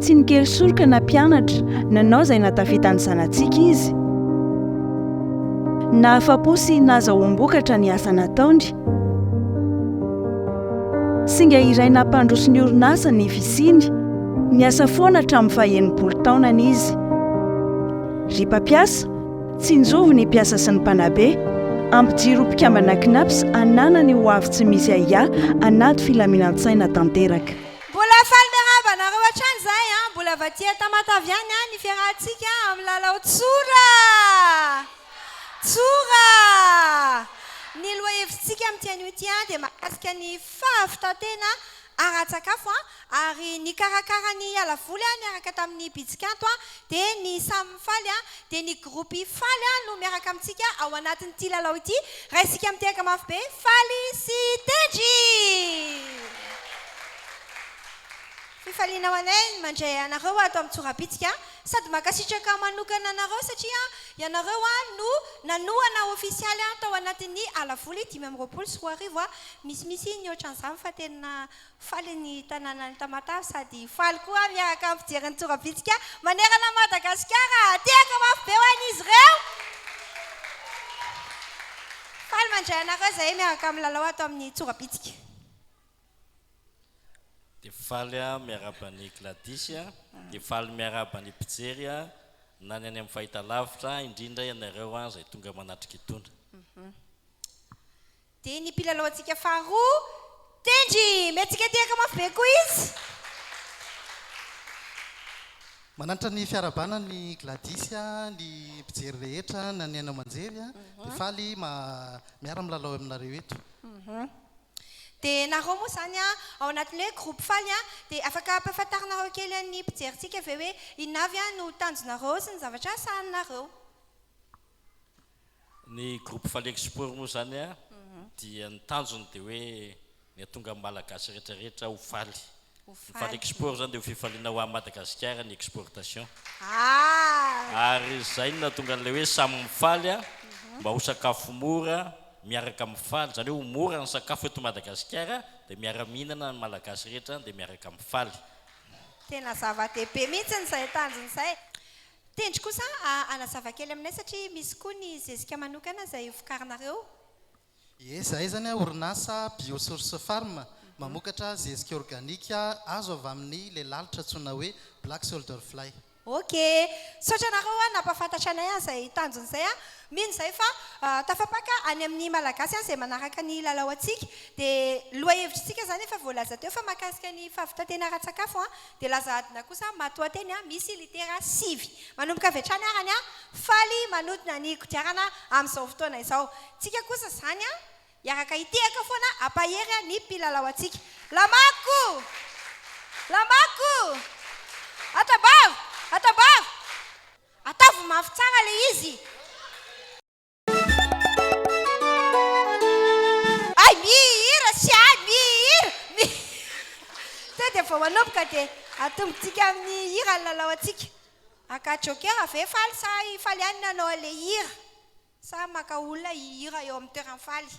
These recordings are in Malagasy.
Tsy nikery soroka na mpianatra, nanao izay nahatafita ny zanatsika izy. Nahafa-po sy nahazahoam-bokatra ny asa nataony. Singa iray nampandroso ny orinasa ny fisiany. Niasa foana hatramin'ny faha-enimpolo taonany izy. Ry mpampiasa, tsinjovy ny mpiasa sy ny mpanabe. Ampijiro ho mpikambana Cnaps hananany ho avy tsy misy ahiahy hanato filaminan-tsaina tanteraka. Mbola faly miarahaba anareo hatrany izahay an! Mbola vatia Tamatave ihany an ny fiarahantsika amin'ny lalao tsora! Tsora! Ny lohahevitsika amin'ity anio ity an dia mahakasika ny fahavitan-tena ara-tsakafo an! Ary nikarakara ny ala voly an niaraka tamin'ny Bitsikanto an Dia ny samy mifaly dia ny groupe faly no miaraka amintsika ao anatin'ity lalao ity raha isika mitehaka mafy be faly sy tendry! Fifaliana ho anay ny mandray anareo ato amin'ny tsorabitsika sady mankasitraka manokana anareo satria ianareo no nanohana ofisialy tao anatin'ny ala voly dimy amby roapolo sy roa arivo, misimisy ny ohatran'izany fa tena Faly ny tanànan'i Tamatave sady faly koa miaraka amin'ny mpijery ny tora-bitsika manerana an'i Madagasikara. Tehaka mafy be ho an'izy ireo. Faly mandray anareo izahay miaraka amin'ny lalao ato amin'ny tora-bitsika. Dia faly aho miarahaba an'i Gladys, dia faly miarahaba ny mpijery na ny any amin'ny fahitalavitra, indrindra ianareo izay tonga manatrika itony. Dia ny mpilalaontsika faharoa, Tendry! Miantsika tehaka mafy be koa izy. Mananatra ny fiarahabana ny Gladys, ny mpijery rehetra na ny haino aman-jery dia faly miara milalao aminareo eto. Dia nareo moa izany ao anatin'ny hoe groupe faly dia afaka ampahafantarinareo kely an'ny mpijerintsika ve hoe inona avy no tanjonareo sy ny zavatra sahaninareo? Ny groupe Falexport moa izany dia ny tanjony dia hoe ny hahatonga ny Malagasy rehetra rehetra ho faly. Ny Falexport izany dia ho fifaliana ho an'i Madagasikara ny exportation. Ary izay no nahatonga an'ilay hoe samy mifaly mba ho sakafo mora, miaraka mifaly. Izany hoe ho mora ny sakafo eto Madagasikara dia miara-mihinana ny Malagasy rehetra dia miaraka mifaly. Tena zava-dehibe mihitsy izay tanjona izay. Tendry kosa hanazava kely aminay satria misy koa ny zezika manokana izay vokarinareo. Ie, izahay izany an, orinasa Biosource Farm, mamokatra zezika organika azo avy amin'ny ilay lalitra antsoina hoe Black Solder Fly. Ok. Misaotra anareo an, nampahafantatra anay an izay tanjony izay an. Mino izay fa tafapaka any amin'ny Malagasy an izay manaraka ny lalao antsika. Dia loha-hevitr'isika izany efa voalaza teo fa mahakasika ny fahavitan-tena ara-tsakafo an, Dia laza adina kosa matoateny a misy litera sivy. Manomboka avy hatrany ara ny a faly manodina ny kodiarana amin'izao fotoana izao. Tsika kosa izany a hiaraka hitehaka foana ampahery a ny mpilalao antsika. Lamako! Lamako! Atambava! Atambava! Ataovy mafy tsara le izy! Hay mihira sy hay mihira! Mi Sao dia vao manomboka dia atombontsika amin'ny hira ny lalao antsika? Maka jokera ve faly sa faly ihany ny hanao an'ilay hira? Sa maka olona hihira eo amin'ny toeran'ny faly?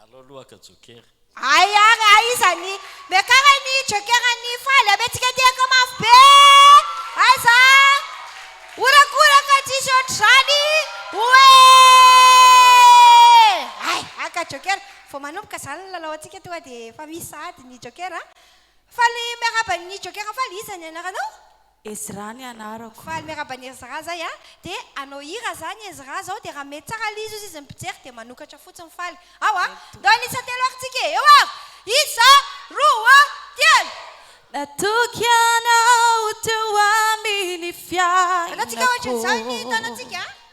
Allo lohaka joker. Ay ary a iza ny miakara ny joker ny faly ame tsika tehaka mafy be aza horakoraka tsisy ohatr'izany oe ay aka joker vao manomboka zany ny lalao antsika toa dia efa misy sahady ny joker a faly miaraba ny joker faly iza ny anaranao Ezra ny anarako. Faly miaraba an'i Ezra zay a! De hanao hira za ny Ezra zao de raha mety tsara ilay izy hozy izy mpijery de manokatra fotsiny faly ao a! Ndao hanisa telo ary tsika e! Eo avy! Isa, roa, telo! Natoky anao teo amin'ny fiainako. Anao tsika ohatrin'izany ny tanantsika a!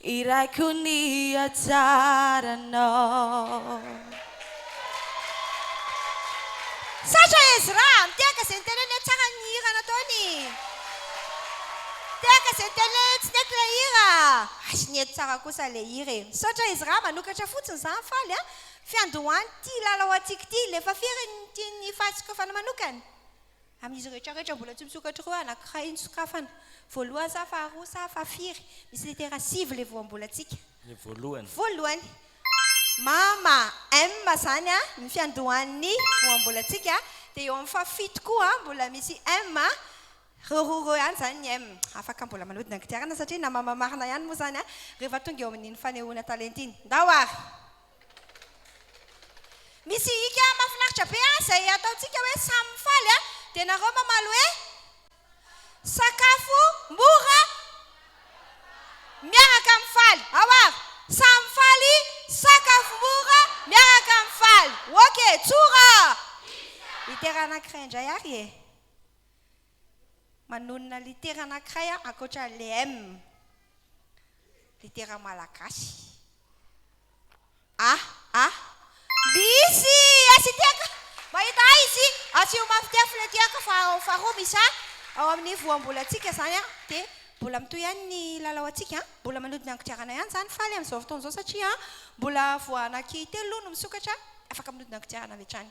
Irako ny hatsaranao. Sacha Ezra, mitehaka izay niteneniny hoe tsara ny hira nataony. Mitehaka izay niteneniny, tsy nety ilay hira. Asy nety tsara kosa ilay hira e. Misaotra Ezra, manokatra fotsiny izany, faly an. Fiandohan'ity lalao antsika ity, ilay efa firy ny tian'ny fahatsikofana manokana? Amin'izy rehetra rehetra mbola tsy misokatra ireo anankiray no sokafana. Voalohany sa faharoa sa fahafiry? Misy letera sivy ilay voambolantsika. Ny voalohany. Voalohany. Mama, M izany ny fiandohan'ny voambolantsika. Dia eo amin'ny fahafito koa mbola misy M. Ireo roa ireo ihany izany ny M. Afaka mbola manodina ny kodiarana satria na mama marina ihany moa izany rehefa tonga eo amin'iny fanehoana talenta iny. Ndao ary! Misy hika mafinaritra be an zay ataontsika hoe samy mifaly an dia nareo mamaly hoe sakafo mora miaraka mifaly ao avy samy mifaly sakafo mora miaraka mifaly ok tsora iter anakiray indray ary e manonona litera anankiray aho ankoatra an'ilay M, litera malagasy. A, A, misy S ity, mahita A izy, asio mafy ity afona ity aho fa ao faharoa misy A, ao amin'ny voambolantsika izany an, dia mbola mitohy ihany ny lalao antsika an, mbola manodina ny kodiarana ihany izany faly amin'izao fotoana izao satria mbola voa anaky telo aloha no misokatra, afaka manodina ny kodiarana avy hatrany.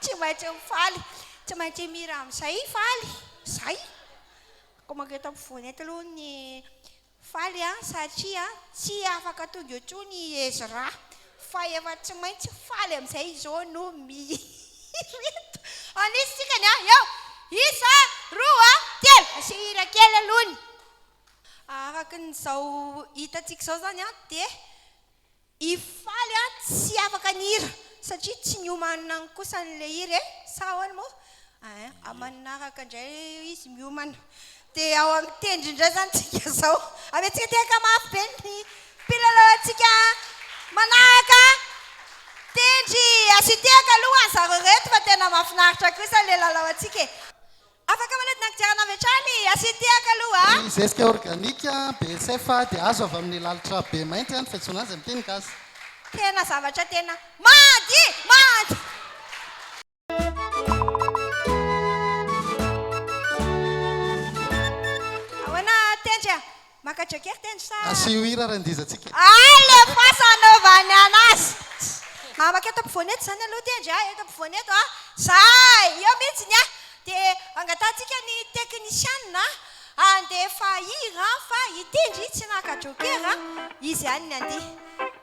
Tsy maintsy mifaly, tsy maintsy mihira amin'izay faly. Izay. Koa manko eto ampovoany eto aloha ny faly an, satria tsy afaka tonga eo intsony i Ezra, fa efa tsy maintsy faly amin'izay izy eo no mihira eto. Anisy isika ny an, eo! Isa, roa, telo! Asio hira kely aloha ny. Araka ny izao hitantsika izao izany an, dia. I Faly a tsy afaka ny hira satria tsy miomana any kosa ny le hira e, sa ahoana moa? Ain, amin'ny manaraka indray izy miomana. Dia ao amin'ny tendry indray izany isika izao. Amiantsika tehaka mafy be ny mpilalao antsika manaraka. Tendry, asio tehaka aloha ho an'zareo ireto fa tena mahafinaritra kosa ilay lalaontsika e. Afaka manodina kodiarana avy hatrany i Asintehaka aloha a! Ny zezika organika, BSF, dia azo avy amin'ny lalitra be mainty an, fiantsoana azy amin'ny teny gasy. Tena zavatra tena mady! Mady! Ahoana tendry a! Maka jacket ny sa. Asio hira ary andizantsika. Alefaso anaovany anazy. Amako eto ampovoany eto izany aloha tendry a, eto ampovoany eto a. Zay! Eo mihitsy ny ahy. Dia angatahantsika ny teknisianina handefa hira fa i Tendry tsy naka jokera, izy ihany ny handihy.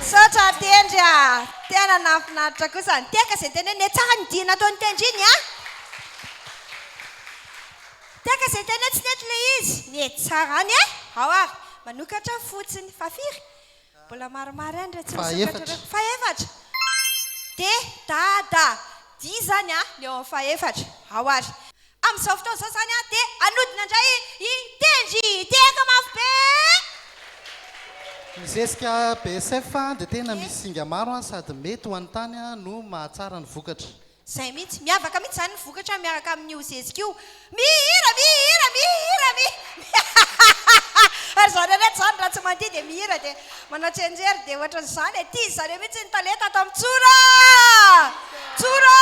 Misaotra Tendry a! Tena nahafinaritra kosa ny teka izay teneniny hoe tsara ny dihy nataon'i Tendry iny a! Teka izay teny hoe tsy nety ilay izy, nety tsara any e! Ao ary, manokatra fotsiny fa firy? Mbola maromaro ihany ireo tsy nisokatra ireo. Fahefatra! Dia dada! Dihy izany a, ny eo amin'ny fahefatra. Ao ary. Amin'izao fotoana izao izany dia hanodina indray i Tendry tehaka mafy be! Ny zezika BSF dia tena misy singa maro sady mety ho an'ny tany no mahatsara ny vokatra. Izay mihitsy, miavaka mihitsy izany ny vokatra miaraka amin'io zezika io. Mihira, mihira, mihira, mihira! Ary izany ireto izany raha tsy mandihy dia mihira dia manao tsenjery dia ohatran'izany e! Tia zareo mihitsy ny talenta ato amin'ny Tsora! Tsora!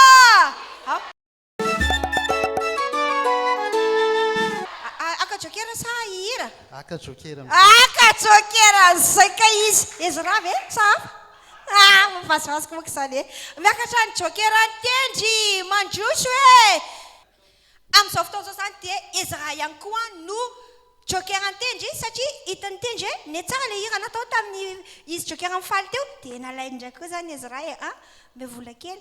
Aka jokera sa hihira? Aka jokera mizay. Aka jokera mizay ka izy. Ezra ve sa hafa? Ah, mavazivaziko moa izany e. Miakatra ny jokera ny tendry, mandroso e. Amin'izao fotoana izao izany dia Ezra ihany koa no jokera ny tendry satria hita ny tendry hoe nihatsara ilay hira natao tamin'ny izy jokera mifaly teo dia nalainy indray koa izany Ezra e. Ah, mbe vola kely.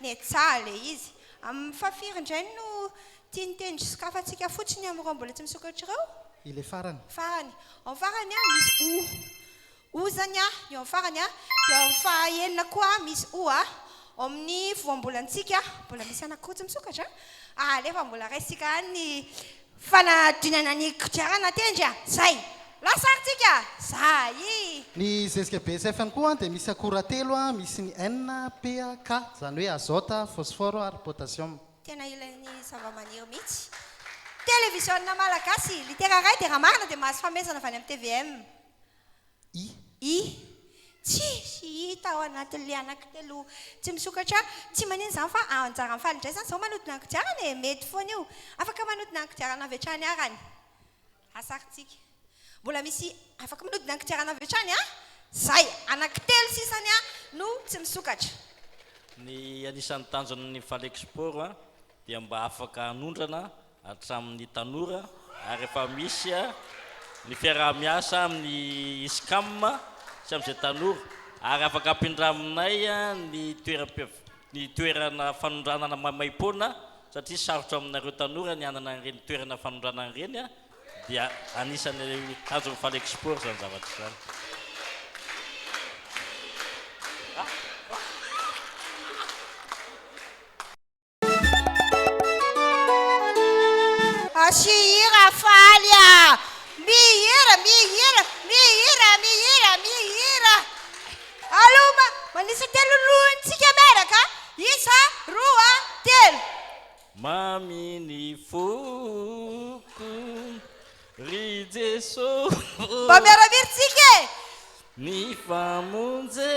Nietsaha ilay izy. Amin'ny fahafiry indray no tiany teny sokafantsika fotsiny amin'ireo mbola tsy misokatra ireo? Ilay farany. Farany. Ao amin'ny farany a, misy o. O izany a, eo amin'ny farany a. Dia ao amin'ny fahaenina koa misy o a. Ao amin'ny voambolantsika, mbola misy anankiroa tsy misokatra a. Alefa mbola raisintsika any ny Fanadinana ny kodiarana tendry a! Zay! Lasa ary tsika! Zayy! Ny zezika BSF ihany koa dia misy akora telo, misy ny N, P, K, izany hoe azôta, fôsfôro ary pôtasiôma. Tena ilain'ny zavamaniry mihitsy. Televiziona Malagasy, Litera iray dia raha marina dia mahazo fanomezana avy any amin'ny tvm. I. I. Tsisy hita ao anatin'ny lianako telo tsy misokatra. Tsy maninona izany fa anjaran'ny fahalindraisana izao manodina ny kodiarana e! Mety foana io. Afaka manodina ny kodiarana avy hatrany ara ny lasarintsika. Mbola misy afaka manodina ny kodiarana avy hatrany an? Izay! Anaky telo sisa ny ahy no tsy misokatra. Ny anisan'ny tanjon'ny Falexport dia mba afaka hanondrana hatramin'ny tanora ary efa misy ny fiaraha-miasa amin'ny ISCAM sy amin'izay tanora ary afaka ampindraminay ny ny toerana fanondranana maimaim-poana satria sarotra aminareo tanora ny hanana an'ireny toerana fanondranana ireny dia anisan'ny tanjon'ny Falexport izany zavatra izany. Mihira faly a! Mihira, mihira, mihira, mihira, mihira! Allo, ma- manisa telo ny lohantsika miaraka a! Isa, roa, telo! Mamy ny foko ry Jesosy. Mba miara-mihira tsika e! Ny famonjena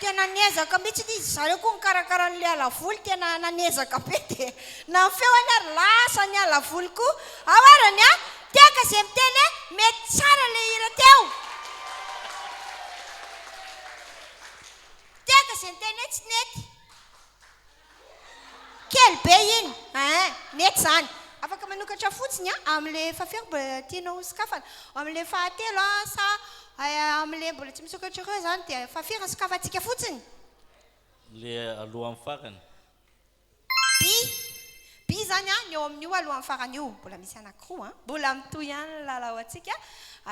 Tena niezaka mihitsy izy zareo koa nikarakara an'ilay alavoly tena nanezaka be dia na ny feony ary lasa ny alavoly koa ao ary ny ahy tehaka izay miteny hoe mety tsara ilay hira teo tehaka izay niteny hoe tsy nety Kely be iny eeh! Mety zany. Afaka manokatra fotsiny an, amin'le efa firy mbola tianao ho sokafana? Amin'le fahatelo an, sa amin'le mbola tsy misokatra ireo zany dia efa firy ny sokafantsika fotsiny? Le alohan'ny farany. By, By izany an, ny eo amin'io alohan'ny farany io, mbola misy anakiroa an. Mbola mitohy ihany ny lalao antsika.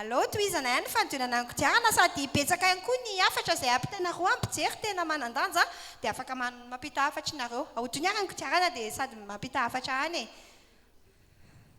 Aleo tohizana ihany ny fanodinana ny kodiarana sady betsaka ihany koa ny hafatra izay ampitanareo an, mpijery tena manan-danja dia afaka mampita hafatra ianareo. Ahodino ary ny kodiarana dia sady mampita hafatra any e.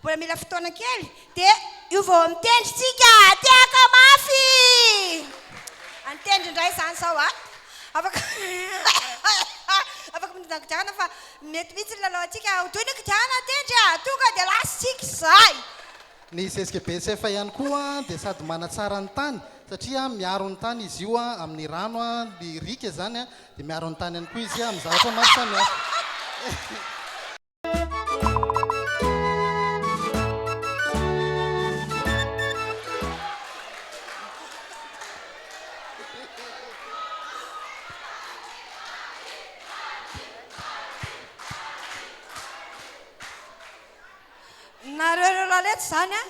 Mbola mila fotoana kely dia io vao mitendry tsika tehaka mafy. Antendry indray izany izao a. Afaka afaka mitondra kodiarana fa mety mihitsy ny lalaontsika ho toy ny kodiarana antendry a. Tonga dia lasa isika izay. Ny zezika be sefo ihany koa dia sady manatsara ny tany satria miaro ny tany izy io amin'ny rano, ny riaka izany dia miaro ny tany ihany koa izy amin'ny zavatra maro samihafa. Nareo ireo lalety izany an,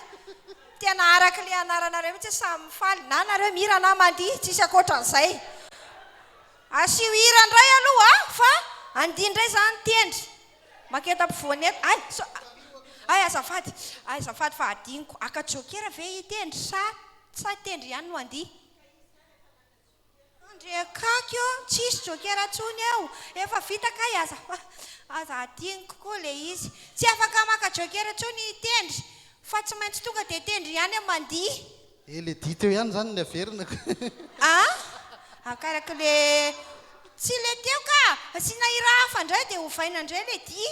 tena araka ilay anaranareo mihitsy samy mifaly, na nareo mihira na mandihy, tsisy ankoatran'izay. Asio hira ndray aloha a fa andihy ndray za ny tendry. Maketa ampovoany eto. Ay so ay azafady ay azafady fa adinoko. Aka jokera ve hitendry sa sa tendry ihany no andihy? Ndry akaiky ô, tsisy jokera ntsony eo. Efa vita kay aza aza adinoko koa le izy. Tsy afaka maka jokera ntsony hitendry fa tsy maintsy tonga dia tendry ihany mandihy. Eh le dihy teo ihany zany ny averina ka. Ah! Akaraka le tsy le teo ka! Asiana hira hafa ndray dia ovaina ndray le dihy.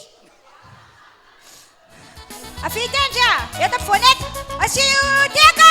Avia ity ndry a! Eto ampovoany eto! Asio io dihy ka!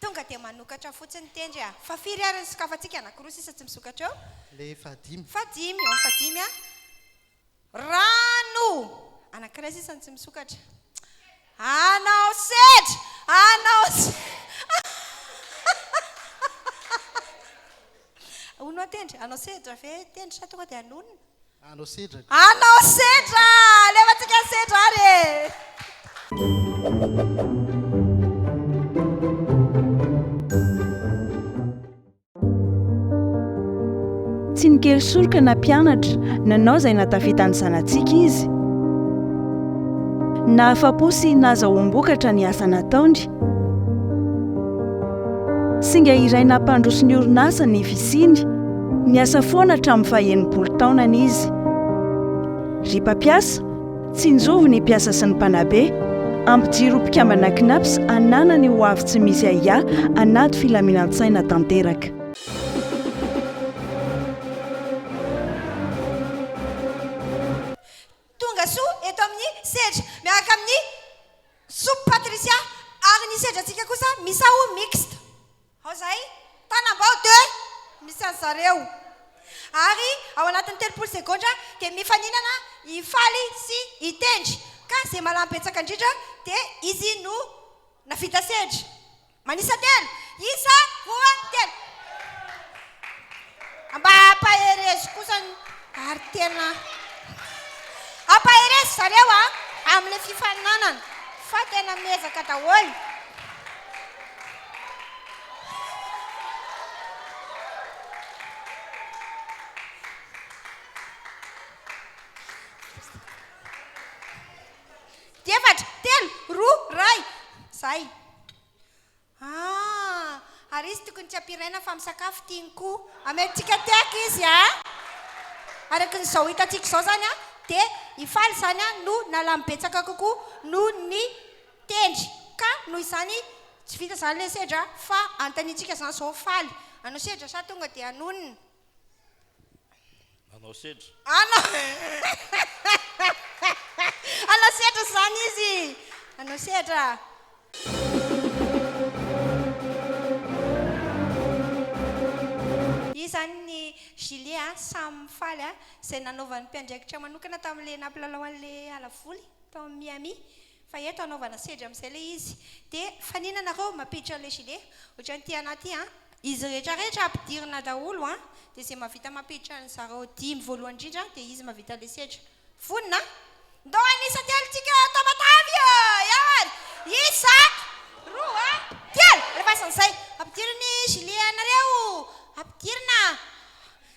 Tonga dia manokatra fotsiny tendry a! Fa firy ary ny sokafantsika? Anakiroa sisa tsy misokatra eo? Le fahadimy. Fahadimy, eo amin'ny fahadimy a! Rano! Anakiray sisa no tsy misokatra. Anao sedra! Anao sedra! Hono aho tendry, anao sedra ve tendry sa tonga dia hanonona? Anao sedra. Anao sedra! Alefantsika ny sedra ary e! Tsy nikely soroka na mpianatra, nanao izay nahatafita ny zanatsika izy. Nahafa-po sy nahazoa-bombokatra ny asa nataony. Singa iray nampandroso ny orinasa ny fisiany, niasa foana hatramin'ny faha-enimpolo taonany izy. Ry mpampiasa, tsinjovy ny mpiasa sy ny mpanabe, ampijiro ho mpikambana Cnaps hananany ho avy tsy misy ahiahy anaty filaminan-tsaina tanteraka. Tongasoa eto amin'ny sehatra miaraka amin'ny. Soup Patricia, ary ny sedratsika kosa misao mixte ao izay, Tanambao de misy an'i zareo. Ary ao anatin'ny telopolo segondra dia mifaninana i Faly sy i Tendry, ka izay malam-betsaka indrindra dia izy no navita sedra. Manisa telo, isa, roa, telo. Mba ampaherezo kosa ny ary tena ampaherezo zareo a amin'ilay fifaninanana fa tena miezaka daholo. Efatra, telo, roa, iray. Izay. Ah! Ary izy tokony tsy ampiraina fa misakafo tiany koa amelintsika tehaka izy a! Araka ny zao hitantsika izao zany a dia i Faly izany a no nalamy betsaka kokoa noho ny tendry ka noho izany tsy vita izany ilay sedra fa anontaniantsika izany izao Faly hanao sedra sa tonga dia hanonona? Nanao sedra. Hanao hanao sedra izany izy. Hanao sedra. Io izany ny Julie a, samy faly a, izay nanaovan'ny mpiandraikitra manokana tamin'ilay nampilalao an'ilay ala voly tao amin'ny Miami. Fa eto anaovana sedra amizay le izy de fanina nareo mampiditra le gilet otrany ty ana ty an. Izy rehetra rehetra ampidirina daholo an de ze mavita mampiditra ny zareo dimy voalohany indrindra de izy mavita le sedra vonona an. Ndao hanisa telo tsika ato matavy a ewan isa roa telo alefasan zay ampidiriny gilet anareo ampidirina.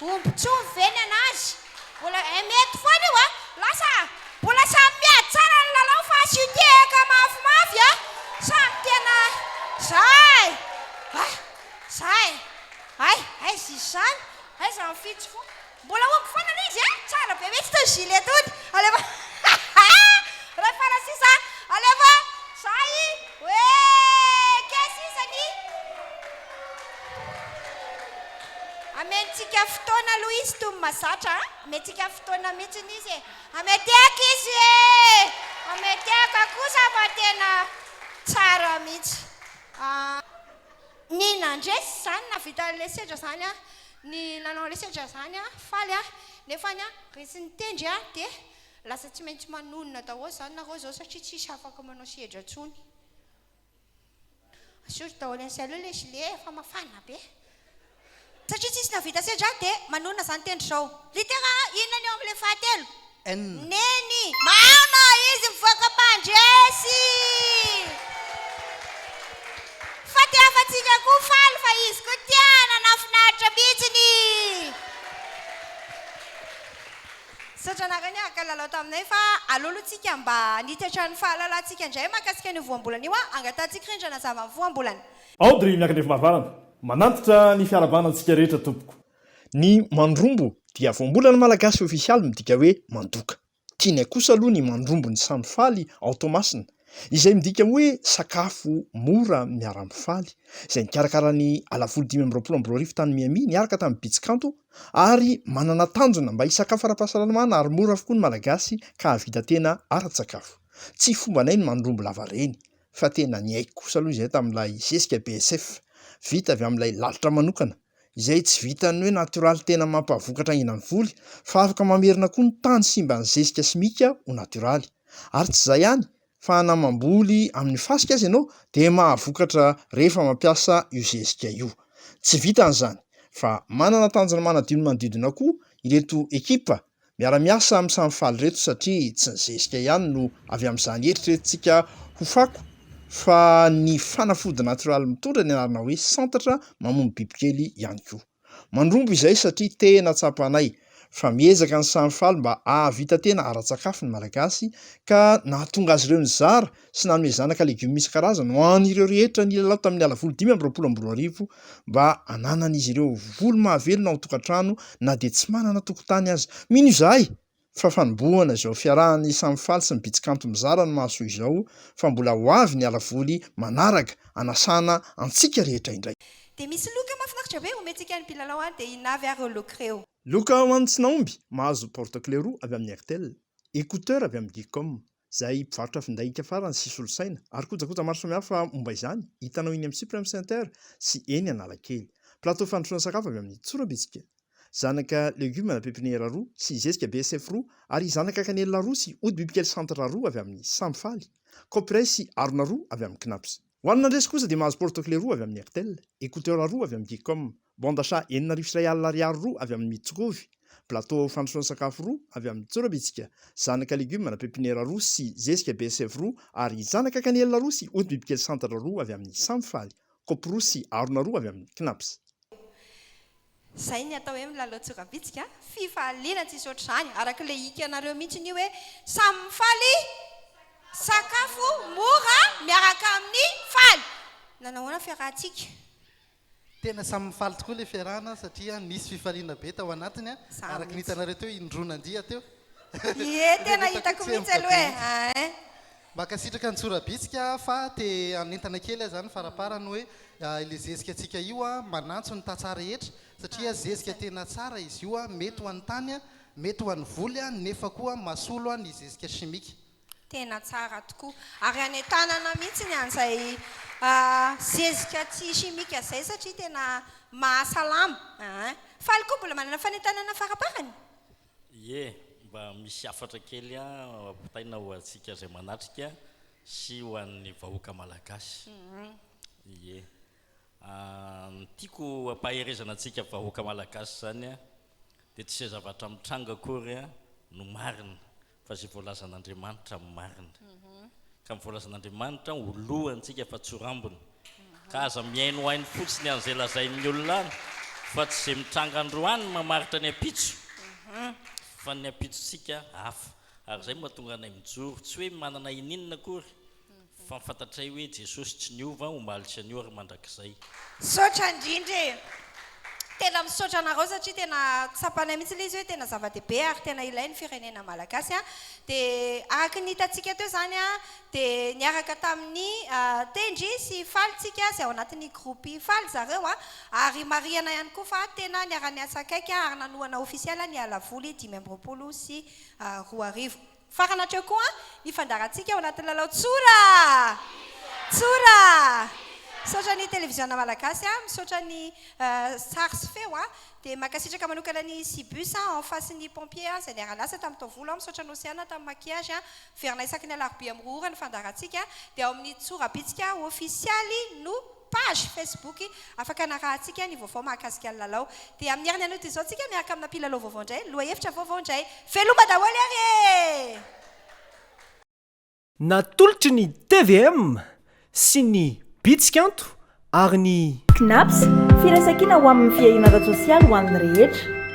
Omby tsy omby ve ny an'azy? Mbola eh mety foana io a! Lasa mbola samy miady tsara ny lalao fa asio tehaka mafimafy a! Samy tena zay! Ah! Zay! Hay! Aiza izy izany? Aiza ny fitsy fo? Mbola omby foana aloha izy eh! Tsara be mihitsy itony gilet tony! Alefa Rehefa raha sisa alefa Zay! Hoe! Kay sisa ny. Amentsika fotoana aloha izy toy ny mazatra a! Amentsika fotoana mihitsy izy e! Ametehako izy e! Ametehako kosa fa tena tsara mihitsy. Ny nandresy izany nahavita ilay sedra izany a, ny nanao ilay sedra izany a, faly a, nefany a resy ny tendry a dia lasa tsy maintsy manonona daholo izany nareo izao satria tsisy afaka manao sedra intsony. Asory daholo any sy aleo ilay gilet e, fa mafana be. Satria tsisy nahavita sedra dia manonona izany tendry izao. Litera A, inona ny eo amin'ilay fahatelo? N. Neny. Mama, izy mivoaka mandresy! Fa te hafa-tsika koa faly fa izy koa tia, nanafinaritra mihitsiny! Sodranareo niaraka nilalao taminay fa aleo aloha tsika mba hanitatra ny fahalalantsika indray mahakasika an'io voambolana io an! Angatahantsika irindra hanazava ny voambolana. Audrey Miakandriafimarivarana, Manantitra ny fiarahabana antsika rehetra tompoko. Ny mandrombo dia voambolana malagasy ofisialy midika hoe mandoka. Tianay kosa aloha ny mandrombo ny samy faly ao Toamasina izay midika hoe sakafo mora miara-mifaly, izay nikarakara ny Alahavoly dimy amby roapolo amby roa arivo tany Miami, niaraka tamin'ny Bitsy Kanto, ary manana tanjona mba hisakafo ara-pahasalamana ary mora avokoa ny Malagasy ka hahavita tena ara-tsakafo. Tsy fombanay ny mandrombo lavareny, fa tena niaiky kosa aloha izahay tamin'ilay zezika BSF, vita avy amin'ilay lalitra manokana. izay tsy vitan'ny hoe natoraly tena mampavokatra aina ny voly fa afaka mamerina koa ny tany simban'ny zezika simika ho natoraly. Ary tsy izay ihany fa na mamboly amin'ny fasika aza ianao dia mahavokatra rehefa mampiasa io zezika io. Tsy vitan'izany fa manana tanjona manadio ny manodidina koa ireto ekipa Miara-miasa amin'ny samy faly reto satria tsy ny zezika ihany no avy amin'izany eritreretintsika ho fako fa ny fanafody natioraly mitondra ny anarana hoe santatra mamono bibikely ihany koa. Mandromba izay satria tena tsapanay fa miezaka ny samy faly mba hahavita tena ara-tsakafo ny Malagasy ka nahatonga azy ireo nizara sy nanome zanaka legioma isan-karazany ho an'ireo rehetra nilalao tamin'ny Alavolo dimy amby roapolo amby roa arivo mba hananan'izy ireo voly mahavelona ao an-tokantrano na dia tsy manana tokotany aza. Mino izahay fa fanombohana izao fiarahany samy faly sy ny Bitsikanto mizara ny mahasoa izao fa mbola ho avy ny Alavoly manaraka hanasana antsika rehetra indray. Dia misy loka mahafinaritra be omentsika ny mpilalao any dia inona avy ary ireo loka ireo? Loka ho an'ny tsy nahomby, mahazo porte-clé roa avy amin'ny Airtel, écouteurs avy amin'ny Geecom, izay mpivarotra finday hiaka farany sy solosaina ary kojakoja maro samihafa momba izany, hitanao eny amin'ny Supreme Center sy eny Analakely. Plateau fandrosoana sakafo avy amin'ny Tsorabitsika, zanaka legioma na pepiniera roa sy zezika BSF roa ary zanaka kanelina roa sy ody bibikely Centre roa avy amin'ny Samy Faly, Copyrice sy harona roa avy amin'ny Cnaps. Ho an'ny nandresy kosa dia mahazo porte-clé roa avy amin'ny Airtel, écouteurs roa avy amin'ny Geecom, bande achat enina arivo sy iray alina ariary roa avy amin'ny Mitsukovi, plateau fandrosoana sakafo roa avy amin'ny Tsorobitsika, zanaka legioma na pepiniera roa sy zezika BSF roa ary zanaka kanelina roa sy ody bibikely santatra roa avy amin'ny Samfaly, kaopy roa sy harona roa avy amin'ny Knaps. Izay ny atao hoe milalao tsoram-bitsika a! Fifaliana tsisy ohatr'izany, araka ilay hikanareo mihitsy io hoe samy mifaly sakafo mora miaraka amin'ny faly! Nanao ahoana ny fiarahantsika? Tena samy mifaly tokoa ilay fiarahana satria nisy fifaliana be tao anatiny a! Araka ny hitanareo teo, indroa nandiha teo. Ie, tena hitako mihitsy aloha e! Mankasitraka ny tsorabitsika fa te hanentana kely aza ny faraparany hoe ilay zezika tsika io manantso ny tantsaha rehetra satria zezika tena tsara izy io mety ho an'ny tany mety ho an'ny voly nefa koa masolo ny zezika chimique. Tena tsara tokoa ary hanentanana mihitsy ny an'izay zezika tsy chimique izay satria tena mahasalama ein. Faly koa mbola manana fanentanana faraparany. Ie, mba misy hafatra kely ampitaina ho antsika izay manatrika sy ho an'ny vahoaka malagasy. Ie. Ny tiako ampaherezana antsika vahoaka malagasy izany dia tsy izay zavatra mitranga akory no marina Fa izay voalazan'Andriamanitra no marina. Ka ny voalazan'Andriamanitra ho lohantsika fa tsy ho rambony. Ka aza mihainohaino fotsiny an'izay lazain'ny olona any fa tsy izay mitranga androany no mamaritra ny ampitso. Fa ny ampitsontsika hafa. Ary izay no mahatonga anay mijoro. Tsy hoe manana ininona akory Fa fantatray hoe Jesosy tsy niova, omaly sy anio ary mandrakizay. Misaotra indrindra e! Tena misaotra anareo satria tena tsapanay mihitsy ilay izy hoe tena zava-dehibe ary tena ilay ny firenena malagasy an! Dia araka ny hitantsika teo izany an, dia niaraka tamin'ny tendry sy faly tsika izay ao anatin'ny groupe faly zareo an! Ary marihana ihany koa fa tena niara-niasa akaiky ary nanohana ofisialy ny halavoly dimy amby roapolo sy roa arivo. Farany hatreo koa ny fandaharantsika ao anatin'ny lalao Tsora! Tsora! Misaotra ny Televiziona Malagasy, misaotra ny sary sy feo, dia mankasitraka manokana ny Cibus en face ny Pompiers izay niara-niasa tamin'ny taovolo, misaotra an'i Oceana tamin'ny maquillage, miverina isaky ny alarobia mirohora ny fandaharantsika, dia ao amin'ny Tsora Bitsika ofisialy no. Page Facebook afaka anarahantsika ny vaovao mahakasika ny lalao. Dia amin'ny herin'ny anio izao tsika miaraka amina mpilalao vaovao indray, lohahevitra vaovao indray. Veloma daholo ary e! Natolotry ny tvm sy ny Bitsikanto ary ny. Cnaps, Firaisankina ho amin'ny fiahiana ara-tsosialy ho an'ny rehetra.